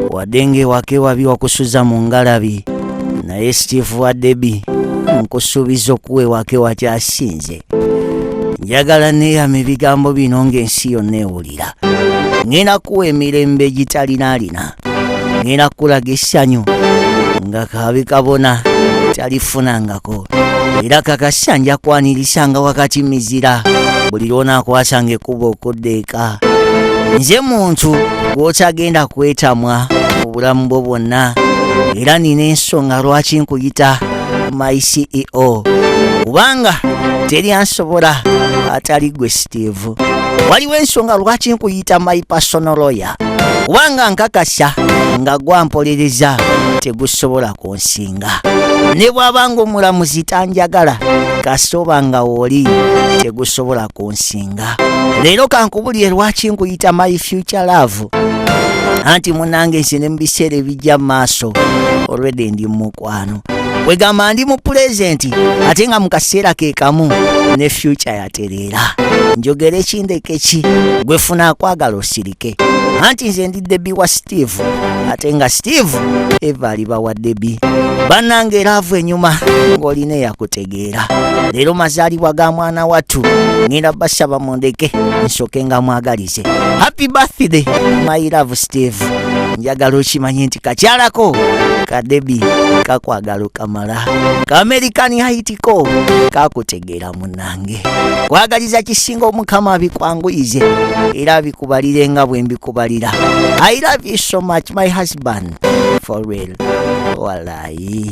wadde ng'ewaka ewabi wakusuza mu ngalabi naye steve wa debi nkusuubiza okuwa ewaka ewakyasinze njagala neeyama ebigambo bino ng'ensi yonna ewulira ŋŋenda kuwa emirembe egitalinaalina ŋŋenda kulaga essanyu nga kaabi kabona talifunanga ekko era kakasa nja kwanirisanga wakati mizira buli lwonaakwasanga ekkuba okudda eka nze muntu gw'otagenda kwetamwa obulamu bwo bwonna era nina ensonga lwaki nkuyita my ceo kubanga teri ansobola atali gwe steve waliwo ensonga lwaki nkuyita my personal lawyer kubanga nkakasa nga gwampolereza tegusobola ku osinga ne bwaba nga omulamuzi tanjagala kasoba nga oli tegusobola kunsinga leero kankubulire lwaki nkuyita my future love anti munange nsi ne mu biseera ebijja mu maaso olwedde ndi mumukwano wegamba ndi mu pulezenti ate nga mu kaseera ke kamu ne fyuca yatereera njogere kindekeki gwe funa akwagala osiri ake anti nze ndi debi wa steve ate nga steve eva aliba wa debi bannange eraavu enyuma ng'olina eyakutegeera leero mazaalibwa ga mwana wattu ngenda basaba mundeke nsoke nga mwagalize happy birthday my love steve njagala okimanye nti kakyalako kadebi kakwagala okamala ka american haitiko kakutegeera munange kwagaliza kisinga omukama abikwanguyize era abikubalire nga bwe mbikubalira i love you so much my husband for real walayi